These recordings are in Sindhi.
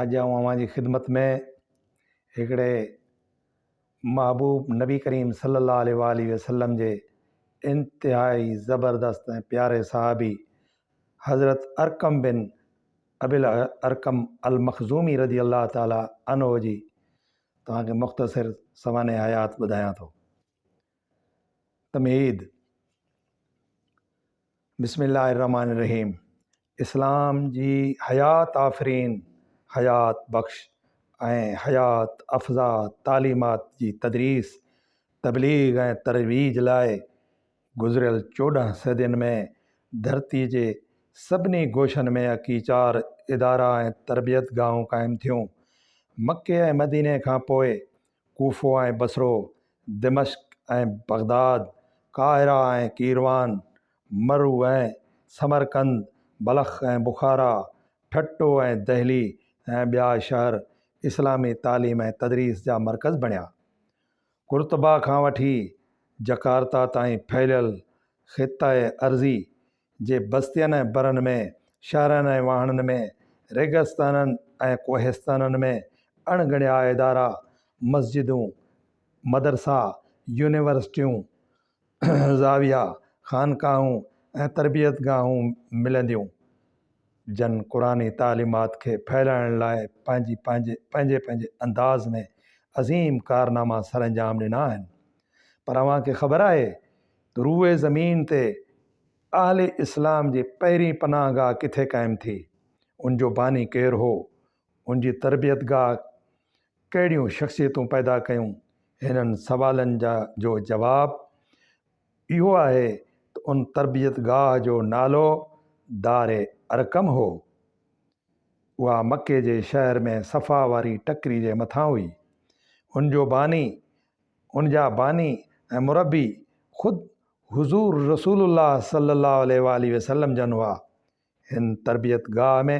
اڄ آئون اوهان جي خدمت ۾ هڪڙي محبوب نبي ڪريم صلي الله عليه وآله وسلم جي انتهائي زبردست ۽ پياري صحابي حضرت ارقم بن ابي الارقم المخزومي رضي الله تعالٰي عنه جي توهان کي مختصر سوانح حيات ٻڌايان ٿو. تمهيد، بسم الله الرحمٰن الرحيم اسلام جي حيات آفرين، حيات بخش ۽ حيات افزا تعليمات جي تدريس، تبليغ ۽ ترويج لاء گذريل چوڏهن صدين ۾ ڌرتي جي سڀني گوشن ۾ اڪيچار ادارا ۽ تربيتگاهون قائم ٿيون. مڪي ۽ مديني کان پوء ڪوفو ۽ بصرو، دمشق ۽ بغداد، قاهره ۽ قيروان، مرو ۽ سمرقند، بلخ ۽ بخارا، ٺٽو ۽ دهلي ۽ ٻيا شهر اسلامي تعليم ۽ تدريس جا مرڪز بڻيا. قرطبه کان وٺي جڪارتا تائين ڦهليل خطه ارضي جي بستين ۽ برن ۾، شهرن ۽ واهڻن ۾، ريگستانن ۽ ڪوهستانن ۾ اڻ ڳڻيا ادارا، مسجدون، مدرسا، يونيورسٽيون، زاويا، خانقاهون ۽ تربيت گاهون ملنديون، جن قرآني تعليمات کي ڦهلائڻ لاء پنهنجي پنهنجي پنهنجي پنهنجي انداز ۾ عظيم ڪارناما سرانجام ڏنا آهن. پر اوهان کي خبر آهي روئي زمين تي اهل اسلام جي پهرين پناهه گاهه ڪٿي قائم ٿي، ان جو باني ڪير هو، ان جي تربيت گاهه ڪهڙيون شخصيتون پيدا ڪيون، هنن سوالن جا جو جواب اهو آهي ته ان تربيت گاهه جو نالو دار ارقم هو. اها مڪي جي شهر ۾ صفا واري ٽڪري جي مٿان هئي. ان جو باني ان جا باني ۽ مربي خود حضور رسول الله صلي الله عليه واٰله وسلم جن هئا. هن تربيت گاهه ۾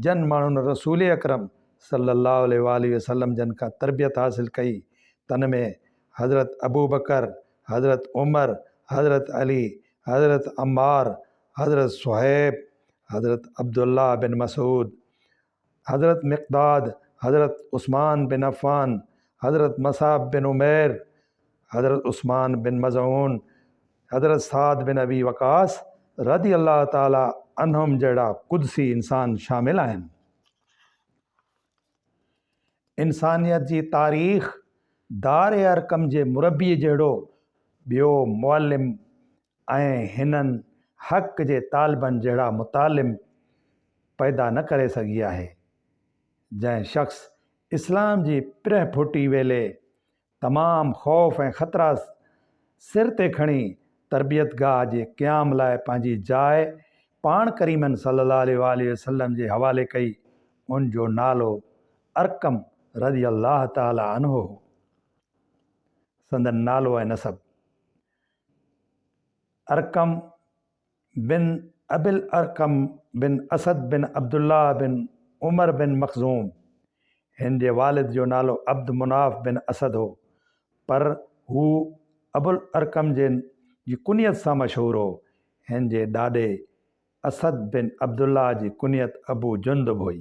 جن ماڻهن رسول اڪرم صلي الله عليه واٰله وسلم جن کان تربيت حاصل ڪئي، تن ۾ حضرت ابوبڪر، حضرت عمر، حضرت علي، حضرت عمار، حضرت صهيب، حضرت عبدالله بن مسعود، حضرت مقداد، حضرت عثمان بن عفان، حضرت مصعب بن عمير، حضرت عثمان بن مظعون، حضرت سعد بن ابي وقاص رضي الله تعالٰي عنهم جهڙا قدسي انسان شامل آهن. انسانيت جي تاريخ دار ارقم جي مربيء جهڙو ٻيو معلم ۽ هنن حق جي طالبن جهڙا متعلم پيدا نه ڪري سگهي آهي، جنهن شخص اسلام جي پرهه ڦوٽي ويلي تمام خوف ۽ خطرا سر تي کڻي تربيتگاهه جي قيام لاء پنهنجي جاء پاڻ ڪريمن صلي الله عليه واٰله وسلم جي حوالي ڪئي ان جو نالو ارقم رضي الله تعالٰي عنه هو سندن نالو ۽ نسب ارقم بن ابي الارقم بن اسد بن عبد الله بن عمر بن مخزوم، هن جي والد جو نالو عبد مناف بن اسد هو، پر هو ابو الارقم جي جي ڪنيت سان مشهور هو، هن جي ڏاڏي اسد بن عبد الله جي ڪنيت ابو جندب هئي.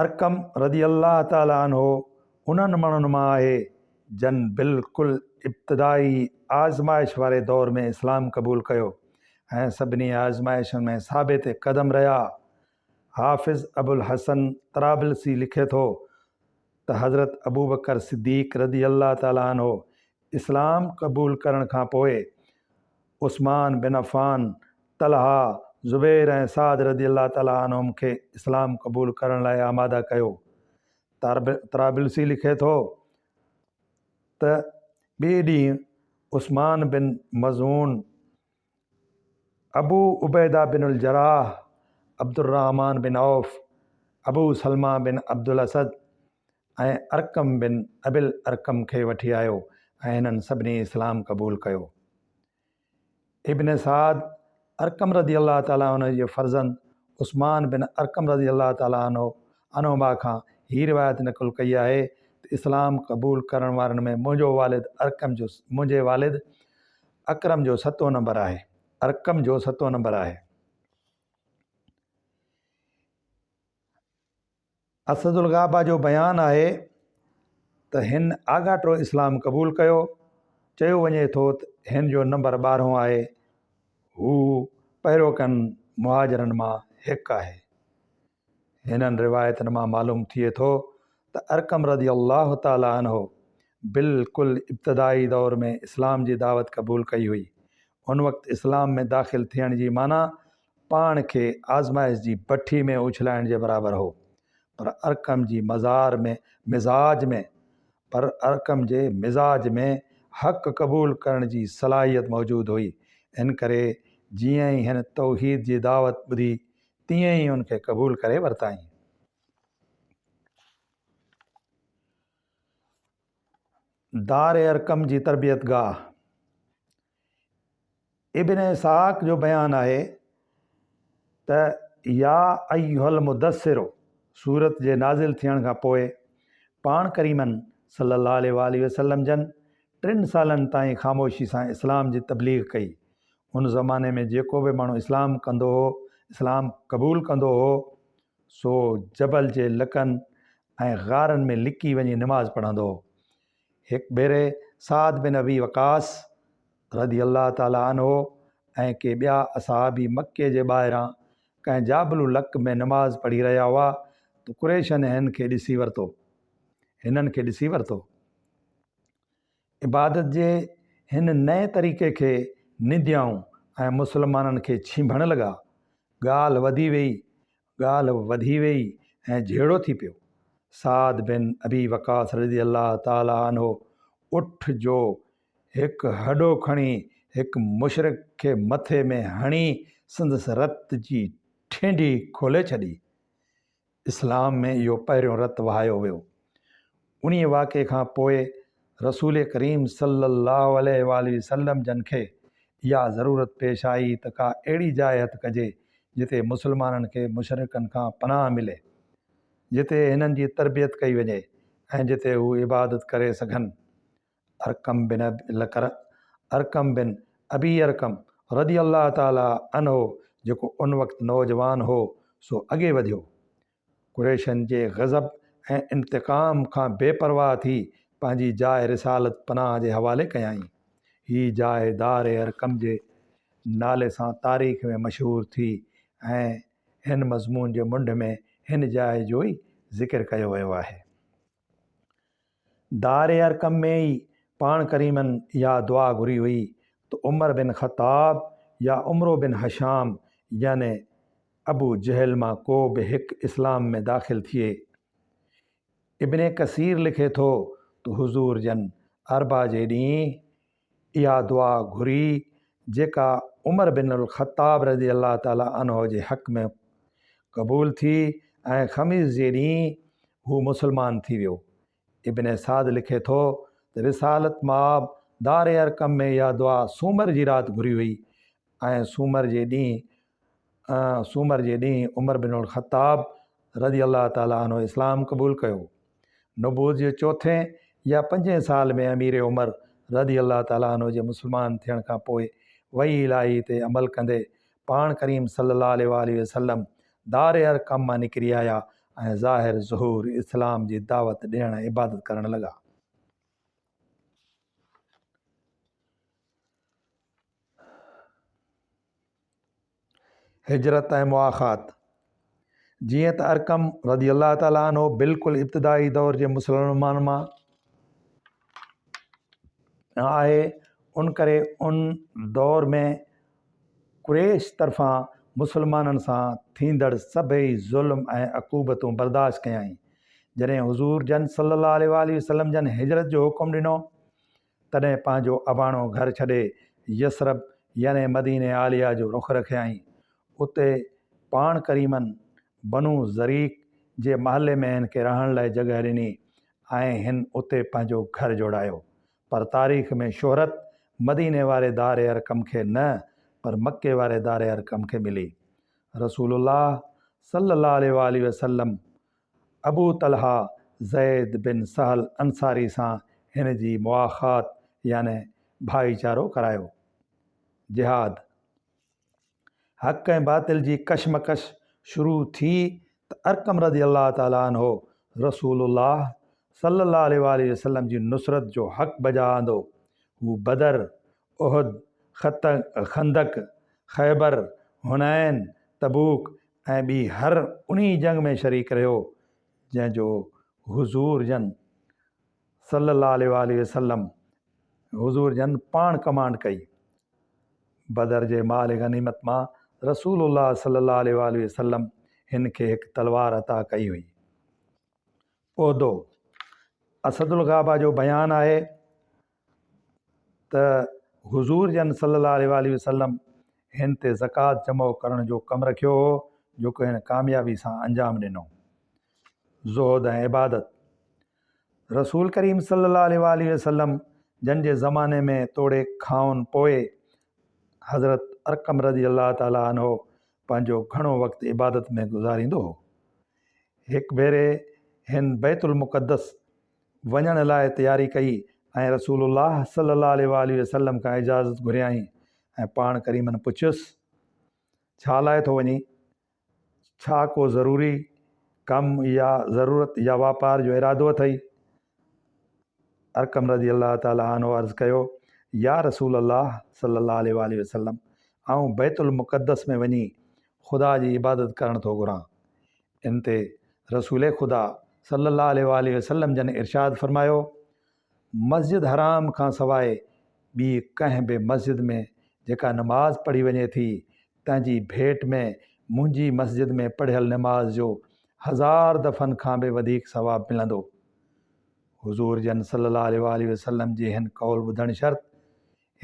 ارقم رضي الله تعالٰي عنه انهن ماڻهن مان آهي جن بلڪل ابتدائي آزمائش واري دور ۾ اسلام قبول ڪيو ۽ سڀني آزمائشن ۾ ثابت قدم رهيا. حافظ ابوالحسن طرابلسي لکي ٿو ته حضرت ابوبڪر صديق رضي الله تعالٰي عنه اسلام قبول ڪرڻ کان پوء عثمان بن عفان، طلحه، زبير ۽ سعد رضي الله تعالٰي عنهم کي اسلام قبول ڪرڻ لاء آماده ڪيو. طرابلسي لکي ٿو ته ٻئي ڏينهن عثمان بن مظعون، ابو عبيده بن الجراح، عبدالرحمان بن عوف، ابو سلمه بن عبدالاسد ۽ ارقم بن ابي الارقم کي وٺي آيو ۽ هنن سڀني اسلام قبول ڪيو. ابن سعد، ارقم رضي الله تعالٰي عنه جي فرزند عثمان بن ارقم رضي الله تعالٰي عنه عنهما کان هي روايت نقل ڪئي آهي ته اسلام قبول ڪرڻ وارن ۾ منهنجو والد ارقم جو منهنجي والد اڪرم جو ستون نمبر آهي. ارقم جو ستون نمبر آهي. اسدالغابه جو بيان آهي ته هن آڳاٽو اسلام قبول ڪيو. چيو وڃي ٿو ته هن جو نمبر ٻارهون آهي. هو پهريوڪن مهاجرن مان هڪ آهي. هنن روايتن مان معلوم ٿئي ٿو ته ارقم رضي الله تعالٰي عنه بلڪل ابتدائي دور ۾ اسلام جي دعوت قبول ڪئي هئي. ان وقت اسلام ۾ داخل ٿيڻ جي معنيٰ پاڻ کي آزمائش جي بٺي ۾ اڇلائڻ جي برابر هو. پر ارقم جي مزار ۾ مزاج ۾ پر ارقم جي مزاج ۾ حق قبول ڪرڻ جي صلاحيت موجود هئي. ان ڪري جيئن ئي هن توحيد جي دعوت ٻڌي تيئن ئي ان کي قبول ڪري ورتائين. دار ارقم جي تربيت گاهه ابن اسحاق جو بيان آهي ته يا ايها المدثر سورت جي نازل ٿيڻ کان پوء پاڻ ڪريمن صلي الله عليه وآله وسلم جن ٽن سالن تائين خاموشي سان اسلام جي تبليغ ڪئي. ان زماني ۾ جيڪو به ماڻهو اسلام ڪندو هو، اسلام قبول ڪندو هو، سو جبل جي لڪن ۽ غارن ۾ لڪي وڃي نماز پڙهندو هو. هڪ ڀيري سعد بن ابي وقاص رضي الله تعالٰي عنه ۽ ڪي ٻيا اصحابي مڪي جي ٻاهران ڪنهن جابلو لڪ ۾ نماز پڙهي رهيا هئا ته قريشن هن کي ڏسي ورتو هنن کي ڏسي ورتو. عبادت جي هن نئين طريقي کي ننديائون ۽ مسلمانن کي ڇنڀڻ لڳا. ڳالهه وڌي ويئي، ڳالهه وڌي ويئي ۽ جهيڙو ٿي پيو. سعد بن ابي وقاص رضي الله تعالٰي عنه اٺ جو هڪ هڏو کڻي هڪ مشرڪ کي مٿي ۾ هڻي سندس رت جي ٺينڍي کولي ڇڏي. اسلام ۾ اهو پهريون رت وهايو ويو. انهيء واقعي کان پوء رسول ڪريم صلّي اللّٰه عليه واٰله وسلّم جن کي اها ضرورت پيش آئي ته ڪا اهڙي جاء هٿ ڪجي جتي مسلمانن کي مشرڪن کان پناهه ملي، جتي هنن جي تربيت ڪئي وڃي ۽ جتي هو عبادت ڪري سگهن. ارقم بن ابي لڪرع، ارقم بن ابي ارقم رضي الله تعالٰي عنه جيڪو ان وقت نوجوان هو سو اڳي وڌيو. قريشن جي غضب ۽ انتقام کان بي پرواهه ٿي پنهنجي جاء رسالت پناهه جي حوالي ڪيائين. هي جاء دار ارقم جي نالي سان تاريخ ۾ مشهور ٿي ۽ هن مضمون جي منڍ ۾ هن جاء جو ئي ذڪر ڪيو ويو آهي. دار ارقم ۾ ئي پاڻ ڪريمن اها دعا گهري هئي ته عمر بن خطاب يا عمرو بن هشام يعني ابو جهل مان ڪو به هڪ اسلام ۾ داخل ٿئي. ابن ڪثير لکي ٿو ته حضور جن اربع جي ڏينهن اها دعا گهري جيڪا عمر بن الخطاب رضي الله تعالٰي عنه جي حق ۾ قبول ٿي ۽ خميس جي ڏينهن هو مسلمان ٿي ويو ابن سعد لکي ٿو ته رسالت ماب دار ارقم ۾ اها دعا سومر جي رات گهري هئي ۽ سومر جي ڏينهن سومر جي ڏينهن عمر بن الخطاب رضي الله تعالٰي عنه اسلام قبول ڪيو. نبوت جي چوٿين يا پنجين سال ۾ امير عمر رضي الله تعالٰي عنه جي مسلمان ٿيڻ کان پوء وحي الاهي تي عمل ڪندي پاڻ ڪريم صلّي الله عليه واٰله وسلّم دار ارقم مان نڪري آيا ۽ ظاهر ظهور اسلام جي دعوت ڏيڻ ۽ عبادت ڪرڻ لڳا. هجرت ۽ مواخات، جيئن ته ارقم رضي الله تعالٰي عنه بلڪل ابتدائي دور جي مسلمانن مان آهي ان ڪري ان دور ۾ قريش طرفان مسلمانن سان ٿيندڙ سڀئي ظلم ۽ عقوبتون برداشت ڪيائين جڏهن حضور جن صلّي اللّٰه عليه واٰله وسلّم جن هجرت جو حڪم ڏنو تڏهن پنهنجو اباڻو گهر ڇڏي يثرب يعني مدينه عاليه جو رخ رکيائين. اتي پاڻ ڪريمن بنو زريق جي محلي ۾ هن کي رهڻ لاء جڳهه ڏني ۽ هن اتي پنهنجو گهر جوڙايو. پر تاريخ ۾ شهرت مديني واري دار ارقم کي نه پر مڪي واري دار ارقم کي ملي. رسول الله صلّي اللّٰه عليه واٰله وسلّم ابو طلحه زيد بن سهل انصاري سان هن جي مواخات يعني ڀائيچارو ڪرايو. جهاد، حق ۽ باطل جي ڪشمڪش شروع ٿي ته ارقم رضي الله تعالٰي عنه رسول الله صلي الله عليه واٰله وسلم جي نصرت جو حق بجا آندو. هو بدر، احد، خندق، خيبر، حنين، تبوڪ ۽ ٻي هر انهي جنگ ۾ شريڪ رهيو جنهن جو حضور جن صلي الله عليه واٰله وسلم حضور جن پاڻ ڪمانڊ ڪئي. بدر جي مال غنيمت مان رسول الله صلي الله عليه واٰله وسلم هن کي هڪ تلوار عطا ڪئي هئي. عهدو اسد الغابه جو بيان آهي ته حضور جن صلّي اللّٰه عليه واٰله وسلّم هن تي زڪوات جمع ڪرڻ جو حڪم رکيو هو جيڪو هن ڪاميابي سان انجام ڏنو. زهد ۽ عبادت، رسول ڪريم صلّي اللّٰه عليه واٰله وسلّم جن جي زماني ۾ توڙي کانئن پوء حضرت ارقم رضي الله تعالٰي عنه پنهنجو گهڻو وقت عبادت ۾ گذاريندو هو. هڪ ڀيري هن بيت المقدس وڃڻ لاء تياري ڪئي ۽ رسول الله صلي الله عليه واٰله وسلم کان اجازت گهريائين ۽ پاڻ ڪريمن پڇيس، ڇا لاء ٿو وڃين؟ ڇا ڪو ضروري ڪم يا ضرورت يا واپار جو ارادو اٿئي؟ ارقم رضي الله تعالٰي عنه عرض ڪيو، يا رسول الله صلي الله عليه واٰله وسلم! آئون بيت المقدس ۾ وڃي خدا جي عبادت ڪرڻ ٿو گهران. ان تي رسول خدا صلّي اللّٰه عليه واٰله وسلّم جن ارشاد فرمايو، مسجد حرام کان سواء ٻي ڪنهن به مسجد ۾ جيڪا نماز پڙهي وڃي ٿي، تنهن جي ڀيٽ ۾ منهنجي مسجد ۾ پڙهيل نماز جو هزار دفعن کان به وڌيڪ ثواب ملندو. حضور جن صلّي اللّٰه عليه واٰله وسلّم جي هن قول ٻڌڻ شرط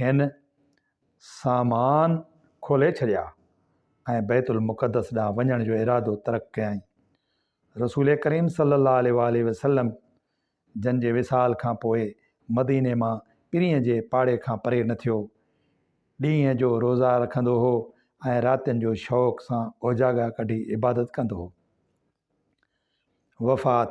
هن، سامان کولي ڇڏيا ۽ بيت المقدس ڏانهن وڃڻ جو ارادو ترڪ ڪيائين. رسول ڪريم صلّي اللّٰه عليه واٰله وسلّم جن جي وصال کان پوء مديني مان پرينء جي پاڙي کان پري نه ٿيو. ڏينهن جو روزا رکندو هو ۽ راتين جو شوق سان اوجاڳا ڪڍي عبادت ڪندو هو. وفات،